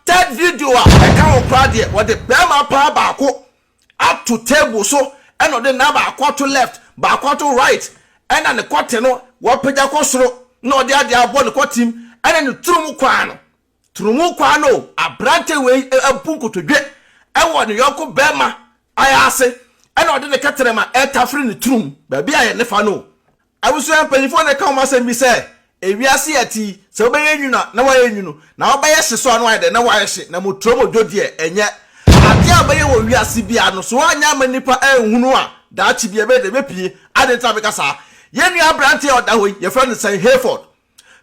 Third video a ɛka ho koraa deɛ wɔde barima paa baako ato table so ɛna ɔde nan baako ato left baako ato right ɛna ne kɔte no wapagya kɔ soro na ɔde adeɛ abɔ ne kɔtem ɛna ne turumu kwaa no turumu kwaa no aberante wei abu nkotodwe ɛwɔ ne yɔnko barima ayɛ ase ɛna ɔde ne kɛtɛrɛma ɛretafere ne turum baabi a yɛne fa no Abusua mpanyimfo na ɛka ho asɛm bi sɛ, Wiase a yɛte yi, sɛ wobɛyɛ nwunu a, na woayɛ nwunu, na wobɛyɛ hye nso a, na woayɛ dɛn? Na woayɛ hye. Na moturom odwo deɛ, ɛnyɛ adeɛ a wobɛyɛ wɔ wiase biara no. So woanyɛ amma nnipa anhunu a, daakye bi ɛbɛyɛ dɛn? Ɛbɛpue. Adɛn nti na meka saa? Yɛn nua aberanteɛ a ɔda hɔ yi, wɔfrɛ no sɛn? Hayford.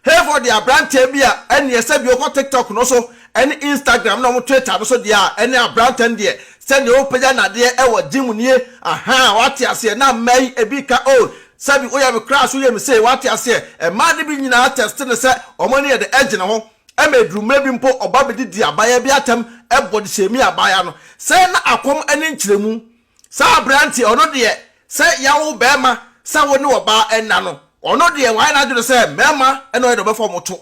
Hereford de aberanteɛ bi a ɛnneɛ sɛdeɛ ɔkɔ TikTok no so ne Instagram ne wɔn Twitter no so deɛ a ɛne aberanteɛ no deɛ sɛdeɛ ɔpagya nadeɛ wɔ gym nie ahaa wate aseɛ na mmaa yi ebi ka oh sɛbi woyɛ me crash woyɛ me sei wate aseɛ mmaa no bi nyinaa test no sɛ wɔn ani yɛ de ɛgyina hɔ ɛma ɛduru mmerɛ bi mpo ɔba bɛdidi abaayaa bi atɛm ɛbɔ de hyɛmi abaayaa no sɛ na akɔm ne nkyerɛmu Saa aberanteɛ, ɔno deɛ sɛ yɛawo barima sɛ wo ne ɔbaa nna no, ɔno deɛ wayɛ n'adwene sɛ mmarima na ɔyɛ deɛ ɔbɛfa wɔn to.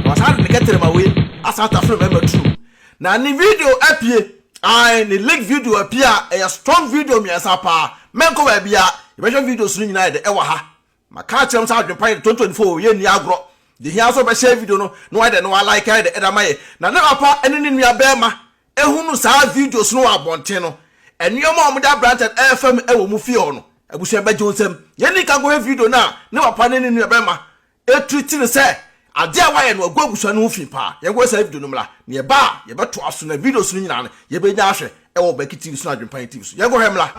Na wasan de ne kɛterɛma wei asan atafere mmarima tirim. Na ne video apue, ae, ne leaked video apue a ɛyɛ strong video mmiɛnsa paa. Mɛnkɔ baabiara, yɛbɛhwɛ videos no nyinaa yɛde ɛwɔ ha. Maka akyerɛ mo sɛ adwempa yɛ de 2024 o, yɛnni agorɔ. Deɛ ɛhia ara sɛ wobɛhyɛɛ video no na woayɛ dɛn na woalike ayɛ dɛn de ama yɛn. Na ne papa ne ne nua barima hunu saa videos no wɔ abɔnten no, nneɛma a wɔde abrante no ɛrefa mu wɔ wɔn fie hɔ no, abusua bɛgye wo nsam. Yɛnni nka nkɔhwɛ video no a ne papa ne ne nua barima treat no sɛ Adze a wɔayɛ no agu abusua no ho fi paa. Yɛnkɔhwɛ saa video no mbra. Na yɛba a, yɛbɛtoa so na videos no nyina no yebenya ahwɛ wɔ Baki TV so na Adwempa Nye TV so. Yɛnkɔhwɛ mbra.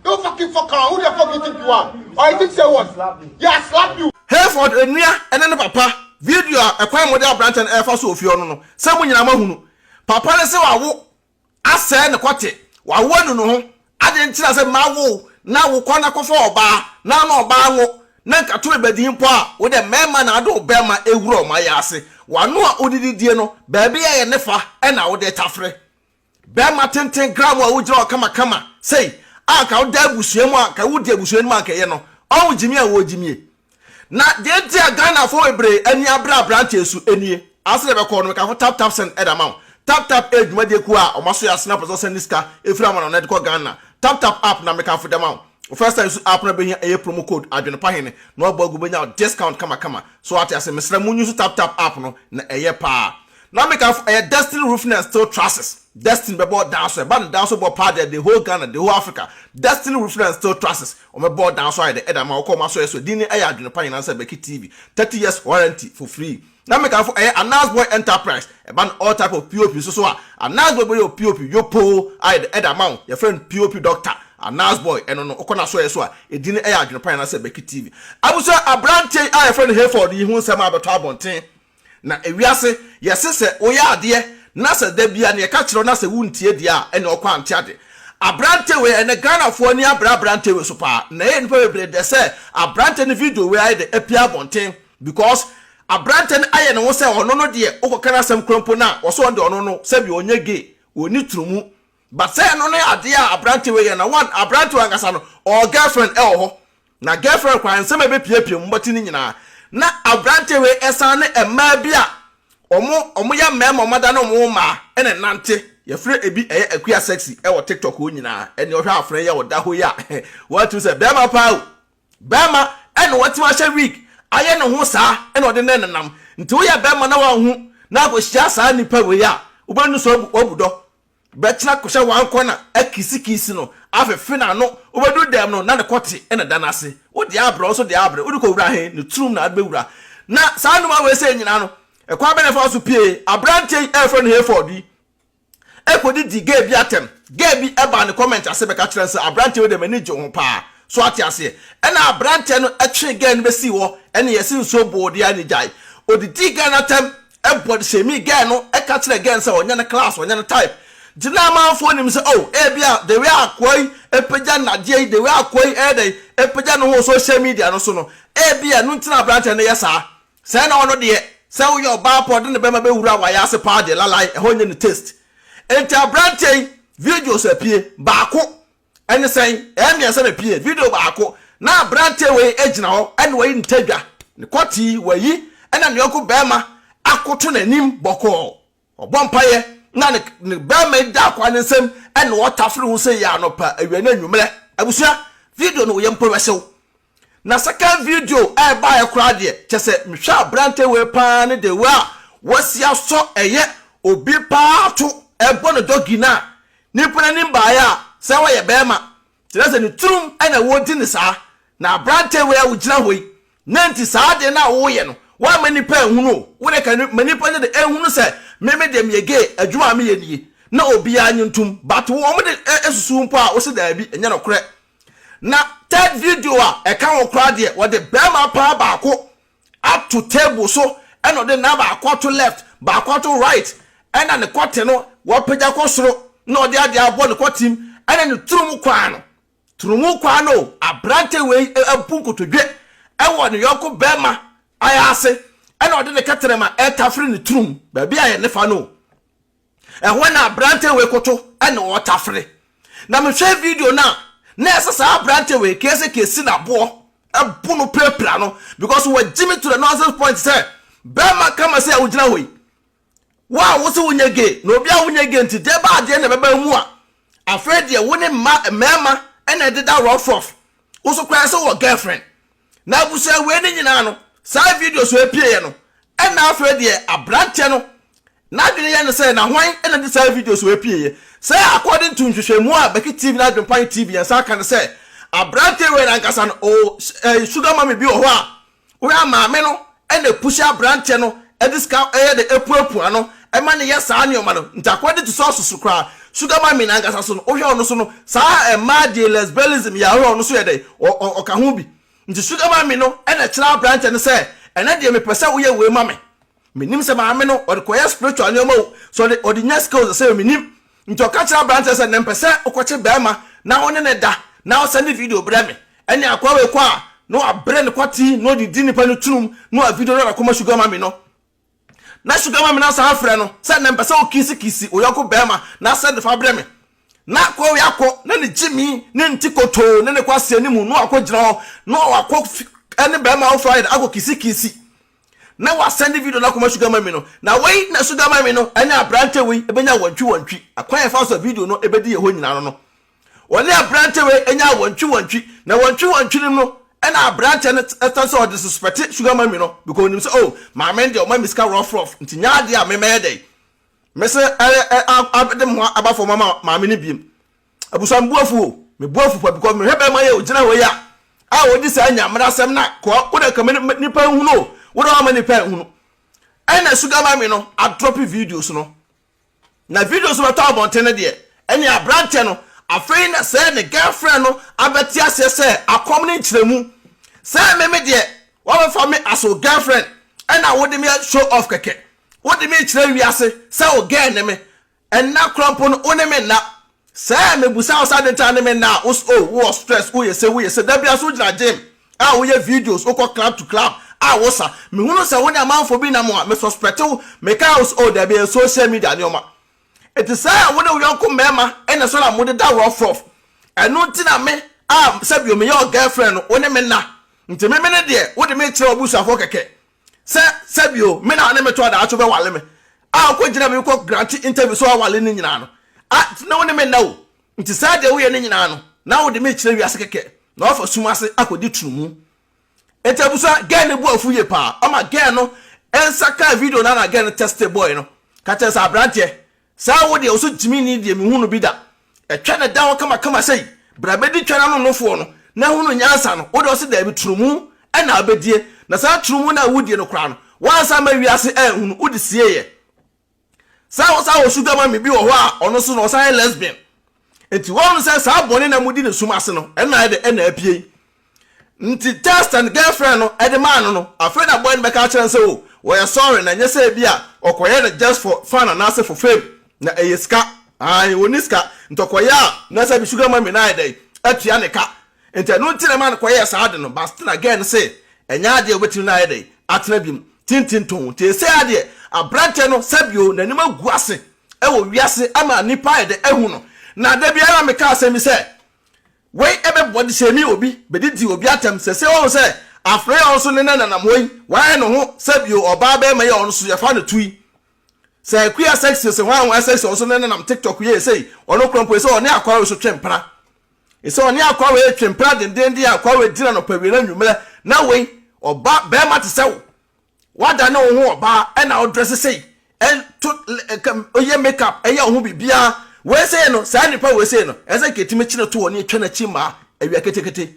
Don't fucking fuck around. Who the fuck you think you are? Or you think say what? Yeah, I slap you. Hayford nua ne ne papa video a ɛkwan a mode aberanteɛ no ɛrefa so wɔ fie hɔ no no sɛ mo nyinaa moahunu. Papa no se wawo asɛe ne kɔte, wawo anu ne ho, adɛn nti na sɛ mmaa wo wo na wo kɔ na kɔfa ɔbaa na wo ne ɔbaa nwo na nkato rebɛdi mpo a wo dɛ mɛɛma na ade wo bɛɛma ɛwura ɔma yɛ ase, w'ano a wode didie no baabi a ɛyɛ ne fa na wode tafere. Barima tenten gramoo a wogyina hɔ kamakama sei a anka woda abusua mu a anka wodi abusua no mu a anka ɛyɛ no. Ɔho gyimie a wɔgyimie. Na deɛ enti a Ghanafoɔ bebree ani abre aberanteɛ so nie. Ase deɛ bɛkɔ no meka ho Tap Tap Send de ama wo. Tap Tap yɛ dwumadie kuo a wɔn aso yɛ asene apɛ sɛ wɔsɛnde sika firi amanɔne de kɔ Ghana. Tap Tap app na mekamfo de ama wo. Wo first time su app no a bɛhia ɛyɛ promo code adwene pa hene na wabɔ agu bɛnya wo discount kamakama. So wate ase? Mesrɛ mo nyi nso Tap Tap app no na ɛyɛ paa. Na me kanfo ɛyɛ destiny roofing and steel trusses destiny bɛbɔ dan so ɛba no dan so bɔ paa deɛ the whole Ghana the whole Africa destiny roofing and steel trusses wɔn bɛbɔ dan so ayɛ dɛ ɛde ama wɔkɔ wɔn asɔre so din ne ɛyɛ adwene pa nyinaa sɛ Becky TV thirty years warranty for free na me kanfo ɛyɛ Anas boy enterprise ɛba no all type of pop nso so a Anas boy bɛyɛ pop yopoo ayɛ dɛ ɛde ama wo yɛfrɛ no pop doctor Anas boy ɛno no wokɔ n'asɔre so a ɛdin ne ɛyɛ adwene pa nyinaa sɛ Becky TV abusua abranteɛ yi a yɛfrɛ no Hayford yi ho nsɛm a bɛtɔ abɔnten Na ewiase, yɛse sɛ woyɛ adeɛ na sɛ da biara neɛ yɛka kyerɛ wo na sɛ wontie deɛ a ɛneɛ ɔkɔ ante ade. Aberante wei ɛnɛ Ghanafoɔ ani abre aberante wei so paa na ɛyɛ nnipa bebree dɛ sɛ aberante no video wei ayɛ dɛ apue abɔnten because aberante no ayɛ ne ho sɛ ɔno no deɛ wokɔka n'asɛm koraa mpo no a ɔse ɔno deɛ ɔno no sɛbi ɔnyɛ gay ɔnni tunumu but sɛ ɛno ne adeɛ a aberante wei yɛ na one aberante wei ankasa no ɔwɔ girlfriend ɛwɔ hɔ Na girlfriend koraa nsɛm a ɛbɛpiapia mu mmɔte no nyinaa na aberanteɛ wei ɛsan ne mmaa bi a ɔmo ɔmo yɛ mmarima ɔmo adane ɔmo ho mmaa ɛna ɛnante yɛfrɛ ɛbi ɛyɛ akua sexy ɛwɔ tiktok hɔ nyinaa ɛneɛ ɔhwɛ afena yi a ɔda hɔ yi a woatim sɛ bɛrima paa o bɛrima ɛna watim ahyɛ wig ayɛ ne ho saa ɛna ɔde ne nenam nti woyɛ bɛrima na wanhu na akɔhyia saa nipa wei a wobɛnu so wabu dɔ Bɛtena kɔhyɛ wankɔ na akisi kisi no afefe n'ano wobɛduru dɛm no na ne kɔte na da no ase wo deɛ abrɛ ɔnso deɛ abrɛ wode kɔwura he ne turom na ade bɛwura na saa nnoɔma wei sei nyinaa no ɛkwan bɛn na ɛfa so pie aberanteɛ yi a yɛfrɛ no Hayford yi ɛkɔdidi gay bi atɛm gay bi ɛbaa ne comment ase bɛka kyerɛ no sɛ aberanteɛ wei deɛ m'ani gye wo ho paa so ate aseɛ ɛna aberanteɛ no ɛtwee gay no bɛsii hɔ ɛne yɛse nsuo boo deɛ a ne gyae ɔdidii gay no atɛm Ɛbɔ de hyɛɛ me girl no ka kyerɛɛ girl no sɛ ɔnyɛ ne class ɔnyɛ ne type nti na amanfoɔ nim sɛ oh ebia the way akoa yi apagya nnadeɛ yi the way akoa yi ɛyɛ dɛn apagya ne ho wɔ social media no so no ebia ɛno nti na aberanteɛ no yɛ saa sɛɛ na ɔno deɛ sɛ woyɛ ɔbaa pɔ de ne bɛma bɛwura w'ayaase paa deɛ lalae ɛhɔ nyɛ ne taste nti aberanteɛ yi videos apie baako Ɛne sɛn? Ɛyɛ mmiɛnsa na ɛpue. Video baako, na aberanteɛ wei gyina hɔ ne wayi ne tadwa, ne kɔte wayi, ɛna ne yɔnko barima akoto n'anim bɔkɔɔ. Ɔbɔ mpaeɛ na ne ne barima yi da akoa no nsam na ɔtafere ho sei anɔpa, awia ne anwummerɛ. Abusua, video no woyɛ mpo bɛhye wo. Na second video a ɛbaeɛ koraa deɛ kyɛ sɛ mehwɛ aberante wei paa ne the way a wasi asɔ ɛyɛ obi paa to ɛbɔ no doggy no a nipa n'anim baeɛ a sɛ ɔyɛ bɛɛma kyerɛ sɛ ne tirim na wɔdi no saa na aberante wei a wogyina hɔ yi na nti saa adeɛ no a woyɛ no woamma nipa anhunu o wo deɛ ka ma nipa nyɛ de ɛnhunu sɛ me me deɛ meyɛ gay adwuma a meyɛ nie na obiara nye ntom but wɔn de ɛsusu mpo a wose daabi ɛnyɛ nokorɛ Na third video a ɛka ho koraa deɛ wɔde barima paa baako ato table so ɛna ɔde ne nan baako ato left baako ato right ɛna ne kɔte no wɔapagya kɔ soro na ɔde adeɛ abɔ ne kɔtem ɛna ne turumu kwaa no turumu kwaa no aberante wei abu nkotodwe ɛwɔ ne yɔnko barima ayɛ ase ɛna ɔde ne kɛtɛrɛma ɛretafere ne turum baabi a yɛ ne fa no Ɛhɔ na aberanteɛ wei koto na ɔretafere. Na mehwɛ video no a, na ɛsɛ saa aberanteɛ wei kese kesi no aboɔ bo no pirapira no because wagye me to the nonsense point sɛ bɛrima ka ma sɛ a wogyina hɔ yi, wo a wo se wonyɛ gay na obi a wonyɛ gay nti deɛ ba adeɛ na ɛbɛba mu a, afei deɛ wo ne mma mmarima na ɛdeda rough rough, wo so koraa sɛ wɔ girlfriend. Na abusua wei no nyinaa no saa videos wei pieeɛ no ɛna afei deɛ abranteɛ no n'adwene yɛ no sɛ na hwan na de saa videos wei pieeɛ sɛ according to nhwehwɛmu a Bɛki TV ne Adwempan TV yɛn nsa aka no sɛ abranteɛ wei no ankasa no ɔwɔ eh, sugar mommy bi wɔ hɔ a woyɛ maame no Ɛna ɛpuhyi aberanteɛ no de sika yɛ dɛ apuapua no ma no yɛ saa nneɛma no nti akoa de tu sɛ ɔsoso koraa sugar mummy no ankasa so no wohwɛ ɔno so no saa mmaa deɛ lesbianism yɛ a wohwɛ ɔno so yɛ dɛ ɔka ho bi nti sugar mummy no na ɛkyerɛ aberanteɛ no sɛ ɛnɛ deɛ mepɛ sɛ woyɛ wei ma me menim sɛ maame no ɔde kɔyɛ spiritual nneɛma o sɛ ɔde ɔde nya sika o sɛ menim Nti ɔka kyerɛ aberanteɛ sɛ nɛ mpɛ sɛ wokɔkye bɛɛma na wone no da na wo sɛnde video brɛ me. Ɛne akoa wei kɔ a na wabrɛ ne kwati na ɔde di nipa no tunum na wa video no de akɔma sugar mummy no. Na sugar mummy no asan afrɛ no sɛ nɛ mpɛ sɛ wo kiisi kiisi wo yɔnko bɛɛma na sɛnde fa brɛ me. Na akoa wei akɔ na ne gyimi ne ne ti kotoo ne ne kwasia no mu na wakɔ gyina hɔ na wakɔ ɛne bɛɛma wo fire akɔ kiisi kiisi. na wasɛnde video no akɔma sugar mami no, na wei na sugar mami no ne aberante wei bɛnya wɔntwiwɔntwi. Akwan a ɛfa so a video no bɛdi yɛn hɔ nyinaa no no, wɔne aberante wei nyaa wɔntwiwɔntwi, na wɔntwiwɔntwi no mu no, ɛna aberante no san sɛ ɔdisuspɛte sugar mami no, because onim sɛ, oh, maame no deɛ ɔma me sika rɔfrɔf, nti nyɛ adeɛ a me mɛyɛ dɛn? Mɛsan abɛde me ho aba fam ama maame no biom. Abusua me bo afu o, me bo afu pa because me hwɛ bɛrima yi a ogyina hɔ yi a, a odi saa Nyamena asɛm na kɔa wo dɛ kama nipa nhunu o, wo dɛ wama nipa nhunu. Ɛna sugar mami no adrɔpi videos no. Na videos no bɛtɔ abɔnten no deɛ, ɛne abranteɛ no afei na sɛ ne girlfriend no abɛte aseɛ sɛ akɔm ne nkyerɛmu. Sɛ me me deɛ, wabɛfa me as wo girlfriend ɛna wode me show off kɛkɛ. Wode me rekyerɛ wiase sɛ wo girl ne me. Nna kor mpo no wo ne me nna. Sɛ mibisa wo sɛ adɛn ntsi na ne me nna a, wo se oh, wowɔ stress, woyɛ se, woyɛ se. Da biara so wogyina gym a woyɛ videos, wokɔ club to club a wosa. Mehu no sɛ wo ne amamfo bi nam a, me suspect wo. Mekaa wo se oh, dabi, ɛyɛ social media nneɛma. Ntsi sɛ wo ne wo yɔnko mmarima na so na modeda rɔfrɔf, ɛno ntsi na me a sɛ bio meyɛ wo girlfriend no, wo ne me nna. Ntsi me me ne deɛ, wode me rekyerɛ w'abusuafoɔ kɛkɛ. sɛ sɛ bio me na ɔne me to a daakye wobɛwale me a wokɔ gyina me wokɔ grante interview sɛ wawale no nyinaa no a na wo ne me nna o nti saa deɛ woyɛ no nyinaa no na wode me kyerɛ wiase kɛkɛ na wafa sum ase akɔdi tunumu nti abusua gɛn no bu afu yie paa ɔma gɛn no nsa kaa video no na gɛn no teste boy no ka kyerɛ sɛ aberanteɛ Saa wo deɛ wo so gyimi ni deɛ menhu no bi da Ɛtwa na ɛda hɔ kama kama sei Bra bɛdi twa no ano nofoɔ no na hunu nyansa no Wo deɛ wo se daabi turumu na wobɛdie Na saa turumu no a wo die no koraa no Woansa amma wiase anhunu Wo de sieeɛ Saa wo saa wo sugar mummy bi wɔ hɔ a ɔno nso no ɔsan yɛ lesbian Nti wɔn sɛ saa bɔne na mudi ne sum ase no ɛna ɛde ɛna apue yi. Nti text and girlfriend no ɛde maa no no afei na boy no bɛka akyerɛ no sɛ oh wɔyɛ sorry na ɛnyɛ sɛ ebia ɔkɔyɛ no just for fun anaasɛ for fame na ɛyɛ sika ae ɔnni sika nti ɔkɔyɛ a na sɛ bi sugar mummy no ayɛ dɛn atua ne ka nti ɛno nti na ɛma no kɔyɛɛ saa ade no but still na girl no se ɛnyɛ adeɛ ɔbɛtumi no ayɛ dɛn atena biom tintinton nti ɛsei ara deɛ abranteɛ no sɛbi o n'anim agu ase wɔ wiase ama nnipa ayɛ dɛ ahu no. Na da biara meka asɛm bi sɛ, Wei bɛboa de hyɛ me obi bedidi obi atɛm. Sɛsɛ wahu sɛ afra yi a ɔnso ne nananam hɔ yi wayɛ ne ho sɛ bio ɔbaa bɛɛma yi a ɔnso yɛfa no tui sɛ akuya sɛksi ose hwan hwan sɛksi ɔnso ne nanam tiktok yi esei ɔno kora mpo esɛ ɔne akwawe so twe mpena esɛ ɔne akwawe twe mpena dendenden a akwawe dina no pawia na nwummerɛ na wei ɔba bɛɛma te sɛ wo woada ne wo ho ɔbaa ɛna ɔdrɛse sei ɛto ɔyɛ make up ɛyɛ ɔho biribiaa wei sei no saa nipa wei sei no ɛsɛ nka ɛtumi kyene to wɔ ne ɛtwa n'akyi mmaa awia ketekete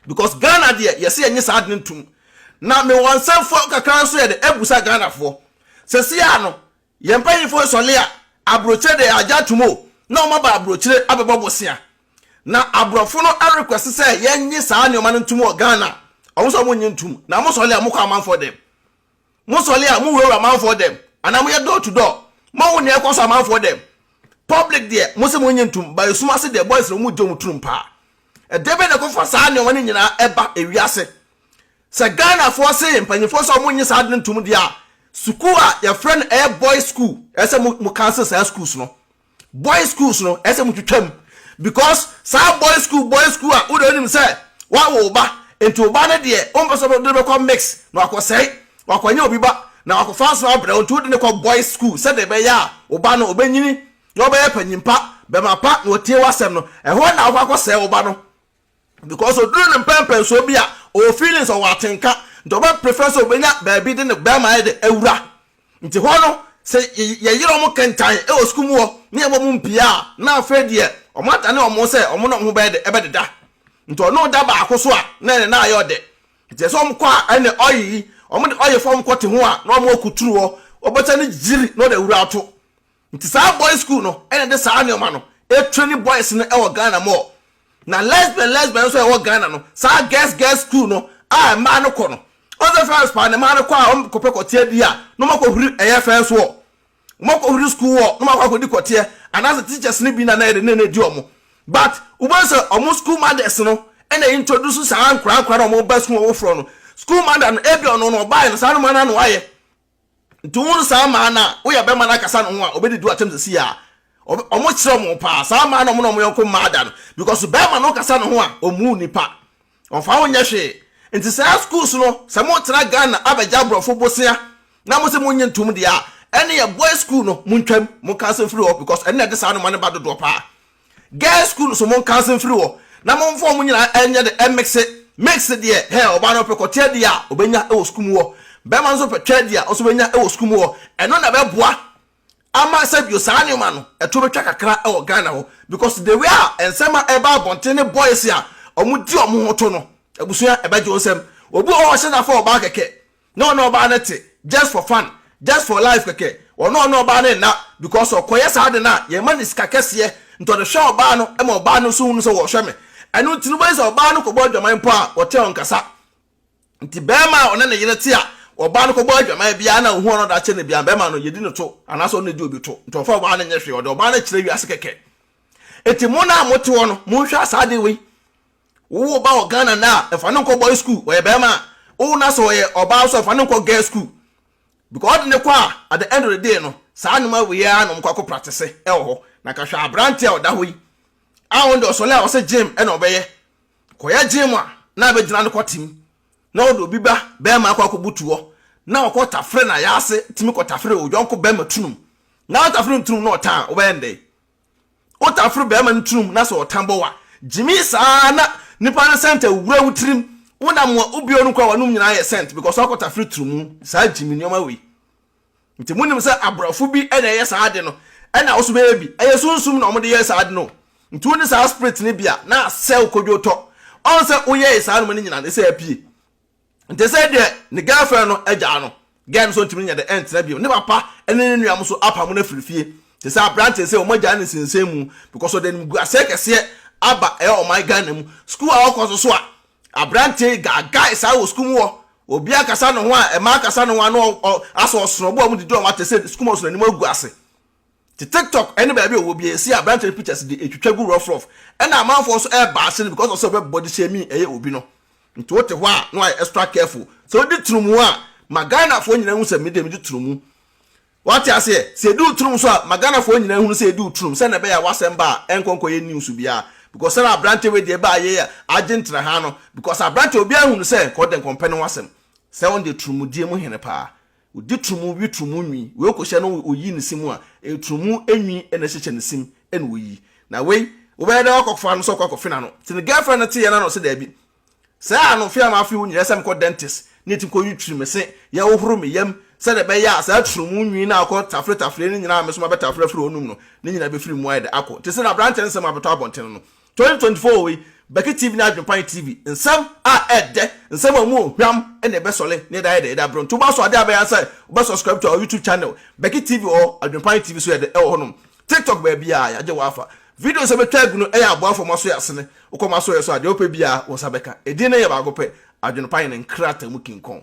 because Ghana deɛ yɛse yɛnye saa adene ntom na mewɔ nsɛmfoɔ kakra nso yɛde abusa Ghanafoɔ sɛsi a no Yɛn mpanyimfo sɔre a, aburokyire de agya atom o, na wɔaba aburokyire abɛbɔ bosea. Na aborɔfo no request sɛ yɛnnye saa nneɛma no ntom wɔ Ghana a, wɔn nso wɔnnye ntom. Na mosɔre a, mokɔ amanfoɔ dɛm. Mosɔre a, mowurawura amanfoɔ dɛm, anaa moyɛ door to door. Moahu nea ɛrekɔ so amanfoɔ dɛm. Public deɛ, mose monnye ntom, but esum ase deɛ, boys no, wɔgye wɔn turum paa. Ɛdeɛbɛn na ɛkɔfa saa nneɛma no nyinaa ba ewiase? Sɛ Ghanafoɔ se mpanyinfoɔ sɛ wɔnnye saa ade no ntom deɛ a, sukuu a yɛfrɛ no ɛyɛ boys school ɛsɛ sɛ mo mo cancel saa schools no. Boys schools no ɛsɛ sɛ mo twitwa mu because saa boys school boys school a wode wonim sɛ wawo wo ba nti wo ba no deɛ wompɛ sɛ wode no bɛkɔ mix na wakɔsɛe wakɔnyɛ obi ba na wakɔfa nso abrɛ wo nti wode no kɔ boys school sɛdeɛ ɛbɛyɛ a wo ba no ɔbɛnyini na ɔbɛyɛ panyin pa, bɛma pa na ɔtie w'asɛm no. Ɛhɔ na wokɔ akɔsɛe wo ba no. because oduru ne mpɛnpɛnsoɔ bi a ɔwɔ feelings ɔwɔ atenka nti ɔbɛ prefer sɛ ɔbɛnya baabi de ne bɛɛma ayɛ dɛ awura nti hɔ no sɛ yɛyere ɔmo kentan wɔ sukuu mu hɔ ne yɛbɔ ɔmo mpia a na afei deɛ ɔmo adane ɔmo sɛ ɔmo ne ɔmo ho bɛyɛ dɛ ɛbɛdeda nti ɔno da baako so a na ɛne na ayɛ ɔdɛ nti ɛsɛ ɔmo kɔ a ɛne ɔye yi ɔmo de ɔye fam kɔ te ho a na ɔmo akuturu hɔ ɔbɛsa ne gyiri na ɔde awura ato Nti saa boys school no ɛna ɛde saa nneɛma no ɛtraini boys no ɛwɔ Ghana more. Na lesbian lesbian nso a ɛwɔ Ghana no, saa girls girls school no a mmaa no kɔ no, wɔn sɛ fɛs paa na mmaa no kɔ a wɔn kɔpɛ kɔteɛ di a, na wɔn akɔhuri ɛyɛ fɛs wɔ. Wɔn akɔhuri school wɔ, na wɔn akɔ akɔdi kɔteɛ, anaasɛ teachers no bi na na ɛde ne na ɛdi wɔn. But, wobɛhu sɛ wɔn school mothers no ɛna introduce saa nkora nkora na wɔn ba school wɔn foforɔ no. School mother no, ɛbi ɔno no ɔbaeɛ no, saa nneɛma no a na wayɛ. nti wo no saa maa no a woyɛ bɛma no akasa ne ho a ɔbɛdi do atɛm sɛsi a ɔmo kyerɛ ɔmo paa saa maa no ɔmo na ɔmo yɔnko mmaa da no because bɛma no kasa ne ho a ɔmuu nipa ɔmfa ho nyɛ hwee nti saa schools no sɛ mo tena Ghana abɛgya aborɔfo bosea na mo sɛ mo nye ntom deɛ a ɛne yɛ boy school no mo ntwam mo kansa mfiri hɔ because ɛne ɛde saa noma no ba dodoɔ paa Girls school so monka ase mfiri hɔ na momfa wɔn nyinaa nyɛ de ɛmmikse, mix deɛ hɛɛ ɔbaa no pɛ kɔ tia deɛ a ɔbɛnya wɔ sukuu mu hɔ, barima no nso pɛ twɛ deɛ ɔnso bɛnya wɔ sukuu mu hɔ, ɛno na ɛbɛboa ama sɛbio saa nneɛma no ɛto bɛtwa kakra wɔ Ghana hɔ because the way a nsɛm a ɛba abɔnten ne boys a wɔn di wɔn ho to no abusua ɛbɛgye wɔn nsam, obi wɔ hɔ a ɔhyɛ da fa ɔbaa kɛkɛ Na ɔne ɔbaa no te just for fun, just for life kɛkɛ. Ɔne ɔne ɔbaa no nna because ɔkɔyɛ saa ade no a, yɛmma no sika kɛseɛ nti ɔde hwɛ ɔbaa no ma ɔbaa no nso hunu sɛ wɔrehwɛ me. Ɛno nti no wobɛhu sɛ ɔbaa no kɔbɔ adwaman mpo a, wɔte ɔnkasa. Nti bɛɛma a ɔne ne yere te a, ɔbaa no kɔbɔ adwaman biaa na ɔhu ɔno daakye no biaa bɛɛma no yɛdi no to anaasɛ ɔno na ɛdi obi to. Nti ɔmfa ɔbaa no nyɛ hwee, ɔde ɔbaa no kyerɛ wiase kɛkɛ. Nti mo no a mote hɔ no, monhwɛ saa ade wei. Wo wo ba wɔ Ghana nnɛ a, fa no nkɔ boys school, ɔyɛ barima a. Wowo no sɛ ɔyɛ ɔbaa nso a, fa no nkɔ girls school. Because wode no kɔ a, at the end of the day no, saa nnoɔma wei ara na wɔkɔ akɔ practice wɔ hɔ. Na ka hwɛ aberanteɛ a ɔda hɔ yi, a ɔno deɛ ɔsɔle a ɔse gym na ɔbɛyɛ. Kɔyɛ gym a, na abɛgyina no kɔ tim. Na wode obi ba, barima akɔ akɔbutu hɔ, na ɔkɔ tafere no ayaase tumi kɔ tafere wo yɔnko barima tunum. Na wotafere no tunum na ɔtan a, wobɛyɛ no dɛn? Wotaa foro barima no tirim na sɛ ɔtan bɔ wo a, gyimi saa ara na nipa no scent awura wo tirim. Wonam mua wo bio no koraa w'anom nyinaa ayɛ scent because woakɔta foro tirim. Saa gyimi nneɛma wei. Nti monim sɛ aborɔfo bi na ɛyɛ saa ade no ɛna wo so bɛyɛ bi. Ɛyɛ sunsum na wɔde yɛ saa ade no o. Nti wone saa spirit no bi a na asɛ wo kodwotɔ. Ɔn sɛ woyɛe saa nnoɔma no nyinaa no ɛsɛ apue. nti sɛ deɛ ne girlfriend no agyaa no girl no so ntumi nyɛ de ɛntena bio ne papa ne ne nua mo so apamo no afiri fie te sɛ aberanteɛ sɛ wɔn agyaa ne nsensɛn mu because ɔde anim gu asɛe kɛseɛ aba ɛyɛ ɔman Ghana mu school a ɔkɔ so so a aberanteɛ yi gaagae saa wɔ school mu wɔ obi akasa ne ho a ɛma akasa ne ho ano asɔ ɔsono ɔbɔ ɔmo didi ɔmo atɛ sɛ school mu ɔsono anim agu ase Nti tiktok ɛne baabi ɔwɔ bia ɛsi aberanteɛ no pictures de ɛtwitwa gu rough rough ɛna amanfoɔ nso ɛɛba ase no because of sɛ ɔbɛ body shaming ɛyɛ obi no nti wote hɔ a na wayɛ extra careful sɛ wodi tunumu a ma Ghanafoɔ nyinaa hu sɛ medeɛ medi tunumu wate aseɛ sɛ ɛdi wo tunum so a ma Ghanafoɔ nyinaa hunu sɛ ɛdi wo tunum sɛnɛ ɛbɛyɛ a wasɛm ba a ɛnkɔnkɔ yɛ news biara because sɛnɛ aberanteɛ wei deɛ ɛbaa yɛ agye ntena ha no because aberanteɛ obiara hunu sɛ nkɔ ɔdɛ nkɔmpɛ ne ho asɛm sɛ ɔno deɛ tunumudie mu hene paa Ɔdi turumu we turumu nwi wei kɔhyɛ no ɔyi ne sim a, ɛyɛ turumu nwi na ɛhyehyɛ ne sim na ɔyi. Na wei, wobɛyɛ dɛn akɔfa no sɛ wokɔ akɔfe n'ano? Nti ne girlfriend no teeɛ no ana ɔse daabi. Sɛɛ ano mfe a mafe hɔ nyinaa ɛsɛ sɛ mekɔ dentist ne ti kɔyi twiri me se, yɛhohoro me yam sɛdeɛ ɛbɛyɛ a saa turumu nwi no a ɔkɔ tafere tafere no nyinaa a me nso mabɛtafere afiri hɔ nom no, ne nyinaa bɛfiri mu ayɛ dɛ akɔ. Nti sɛ na aberanteɛ no sɛ mabɛtɔ abɔntene no, Twenty twenty four wei Bɛki TV ne Adwenpan TV nsɛm a ɛɛdɛ nsɛm a ɔmu ohwam ɛna ɛbɛsɔle na yɛda ayɛ dɛ yɛda abrɛ nti wobasɔ ade a bɛyɛ ansɛ wobɛ subscribe to our YouTube channel Bɛki TV ɔɔ Adwenpan TV so yɛdɛ ɛwɔ hɔnom TikTok baabiaa yagye wo afa videos a bɛtwa agu no ɛyɛ aboafo ɔmo aso yɛ asene wokɔ ɔmo aso yɛ so a deɛ wopɛ biaa wo nsa bɛka edin no yɛ baako pɛ Adwenpan ne nkrata mu kinkɔn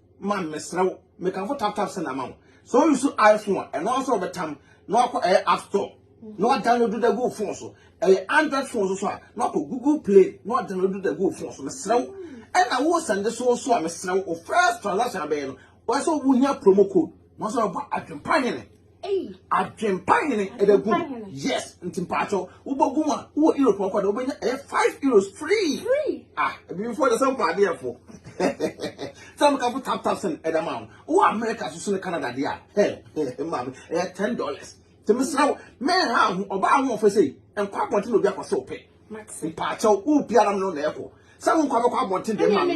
Man mesrɛ wo me kanfo tap tap send ama wo sɛ wo use iPhone a ɛno ara sɛ wɔbɛtam na wakɔ ɛyɛ app store na wadownload da gu wo phone so ɛyɛ android phone so so a na wakɔ google play na wadownload da gu wo phone so mesrɛ wo ɛna wo sɛnde so so a mesrɛ wo first transaction abɛyɛ no wɔsɛ wo hia promo code na wɔsɛ wɔbɔ adwempa nyene Adwempa hene ɛbɛ gu yes nti mpatsɔ wobɔ gu a wowɔ europe ɔkɔ na wobɛnya ɛyɛ five euros free ah ebibifo ɔdɛ sɛ mpɔ adeɛ fo sɛ mo kafo tap tap sɛn ɛdɛ ma wo wowɔ america soso ne canada deɛ a hɛ hɛ maame ɛyɛ ten dollars te mesra wo mɛn ha ho ɔba ahoɔfɛ sɛ nkɔ abɔnten na obi akɔ sɛ ɔpɛ mpatsɔ wo pia nam no na ɛkɔ sɛ wo nkɔ abɛkɔ abɔnten deɛ maame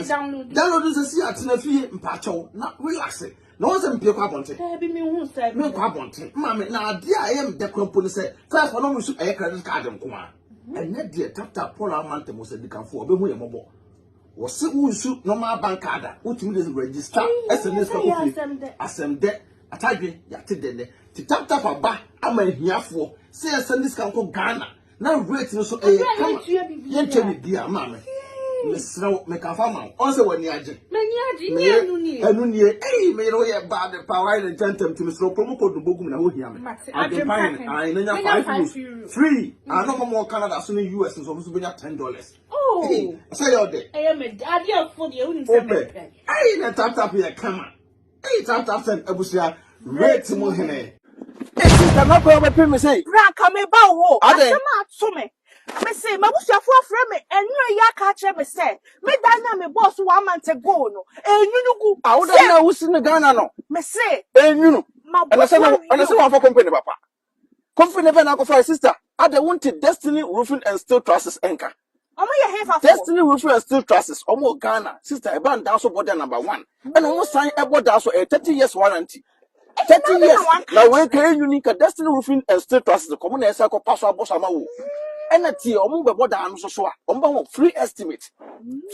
download nsɛ si atena fie mpatsɔ na relax Na wɔn sɛ mpie kɔ abɔnten. Daabi mi hu sɛ. Mi nkɔ abɔnten. Maame na adeɛ a ɛyɛ mi dɛ kura mpo ne sɛ first wɔn nso ɛyɛ credit card nko ara. Ɛnyɛ deɛ tap tap Paul ama ntɛm wɔ sɛ dikanfo ɔbɛ hu yɛ mɔbɔ. Wɔ se wo nsu normal bank card a wo tumi de register ɛsɛ ne sika kofie. Asɛm dɛ atadwe yate dɛ nɛ ti tap tap aba ama ahiafoɔ sɛ yɛ sɛ ne sika nkɔ Ghana. na rate no so ɛyɛ kama yɛntwa biribiara maame mesrɛ wo meka fa ma wo ɔn sɛ w'ani agye ɛno nie ei meyere wo yɛ bad pa wayɛ ne nkyɛ ntɛm ti mesrɛ wo kɔmu kɔdu bɔgu mu na hohia me adwempan no ae na nya five rules free ano ma mɔ canada so ne us nso ɔmo so bɛnya ten dollars oh. sɛ yɛ ɔdɛ wopɛ ei na taptap yɛ kama Eii tanta fɛn abusua rate mu hene. Esi dɛm akɔ ɔbɛ pɛ me sɛ. Bra ka me ba wo ho. Asɛm a ato me. Me se m'abusuafo afrɛ me ɛnura yi aka akyerɛ me sɛ me dan no a me bɔɔ so one month ago no ɛnwunu gu. Awoda no a wosi no Ghana no. Me se. Ɛnwunu. Ɛna sɛ na ɛna sɛ wamfa company papa. Kofi ne pɛ na akɔfa sister. Ada wonte Destiny Roofing and Steel Trusses nka. Ɔmo yɛ hefa fo. Destiny Roofing and Steel Trusses ɔmo wɔ Ghana sister ɛba ndaa so bɔ da number one ɛna ɔmo san ɛbɔ daa so ɛyɛ thirty years warranty thirty years na wei ka yɛ nyuni ka Destiny Roofing and Steel Trusses kɔ ɔmo na ɛsɛ kɔ pa so abɔ so ama wo ɛna tie ɔmo bɛ bɔ daa no so so a ɔmo bɛ ho free estimate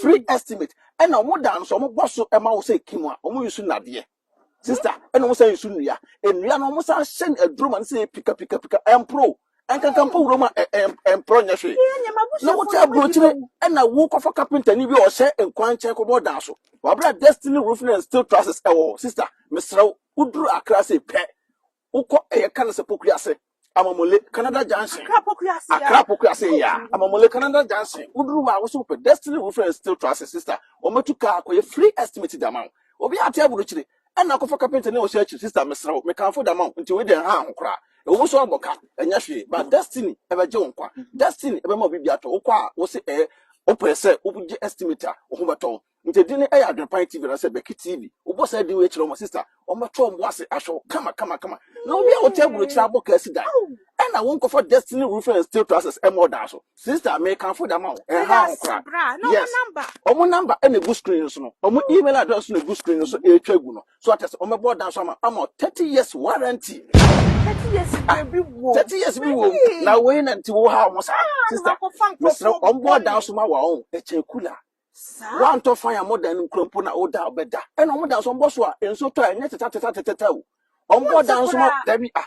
free estimate ɛna ɔmo daa no so ɔmo bɔ so ɛma wo sɛ kim a ɔmo yi so nadeɛ. Sister, ɛna wɔn san nsu nnua. Nnua no wɔn san hyɛ no aduro ma no sɛ pika pika pika ɛmporo. Ɛnkankan mpo wuram a ɛmporo nyɛ hwee. Na wote aburokyire ɛna wokɔfa kapentani bi a ɔhyɛ nkwan nkyɛn kɔbɔ dan so. Wabra Destiny Roofing and Steel Trusses ɛwɔ hɔ. Sister, mesrɛ wo, woduru Accra sei pɛ, Wokɔ ɛyɛ ka no sɛ Pokuase, Amamule, Canada Junction. Accra Pokuase a. Accra Pokuase a. Amamule, Canada Junction. Woduru hɔ a, wosɛ wopɛ Destiny Roofing and Steel Trusses, sister. Wɔbɛtu kaa akɔyɛ free estimate de ama wo. Obiara te aburokyire. Ɛnna kɔfa kapentani a ɔhyɛ akyiri. Sister, mesrɛ wo, mekamfo de ama wo, nti wei deɛ nha ho koraa. Ɛwɔ mu sɛ woabɔ ka, ɛnyɛ hwee, but Destiny bɛgye wo nkwa. Destiny bɛma wo biribi atɔ. Wokɔ a, wose ɛɛ, wopɛ sɛ wogye estimate a, wo ho bɛtɔ wo. Nti din no yɛ Adwenpan TV anaasɛ Bɛki TV. Wobɔ saa din wei kyerɛ wɔn a, sista, wɔbɛto wɔn bo ase ahwɛ wo kama kama kama. Na obi a wote aburokyiri abɔ kaa si dan, ɛna wonkɔfa Destiny Roofing and Steel Trusses mmɔ ɔdan so. Sista, mekamfo de ama wo, ɛnhaw ho koraa. Yes, wɔn number na egu screen no so no, wɔn email address nso na egu screen no so ɛretwa agu no. So ate ase, wɔbɛbɔ ɔdan so ama ama wo 30 years warranty. Thirty years Ah, baabi wɔ. 30 years bi wɔ mu. Na wei na nti wohaw ho saa. Sista, mesrɛ wo, wɔbɔ ɔdan so ma wo a, ɔn, ɛkyɛn kula. Woantɔ fan a modan no nkura mpo na woda a wobɛda. Ɛna wɔn dan so wɔbɔ so a nsuo tɔ a ɛnyɛ tetatatatata o. Wɔbɔ dan so ma dabi a.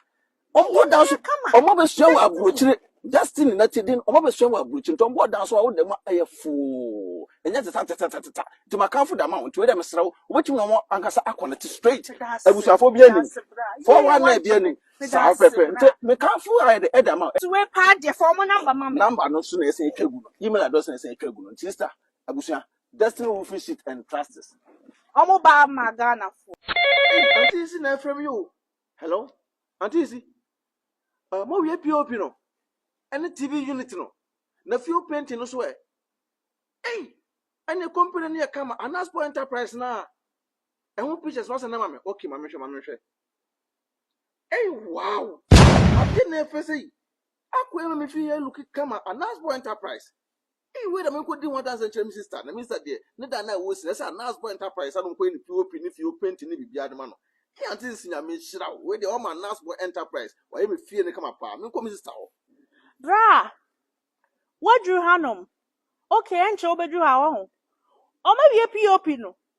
Wɔbɔ dan so wɔn abɛsua wɔ aburokyire destiny na ti den wɔn abɛsua wɔ aburokyire nti wɔbɔ dan so a woda mu a ɛyɛ foo ɛnyɛ tetatatatata nti makanfo da ma wɔn nti wei dɛ mesrɛ wo wobɛtumi na wɔn ankasa akɔ ne te straight abusuafoɔ bi anim four one nine bi anim Saa wo pɛpɛ nti mekamfo ayɛ de ɛda ma nti wei paa deɛ fa ɔmo namba ma me namba no so na ɛsɛ atwa gu no email address na ɛsɛ atwa gu no nti sister abusua destiny roofing sheet and trusts ɔmo ba ma ghana fo anti si na ɛfrɛ me yo hello anti si uh, mo wie pop no ɛne tv unit no na fuel painting no so ɛ ei ɛne company no yɛ kama anaspo enterprise na ɛho pictures no asɛ na ma me okay ma mehwɛ ma mehwɛ Ei wow! Ade na ɛfɛ sɛ yi. Akɔ ɛma me fie yɛ look kama Anasbo Enterprise. Ei wei na me nkɔ di ho adanse nkyerɛ me sister na me sister deɛ ne da na ɛwɔ si na ɛsɛ Anasbo Enterprise ano nkɔ yɛ ne POP ne fie openti ne biribiara de ma no. Ei ante sisi Nyame nhyira wo wei deɛ wama Anasbo Enterprise wayɛ me fie no kama paa me nkɔ me sister hɔ. Bra! Woaduru hanom? Okay ɛnkyɛ wobɛduru ha wahu. Wɔawie POP no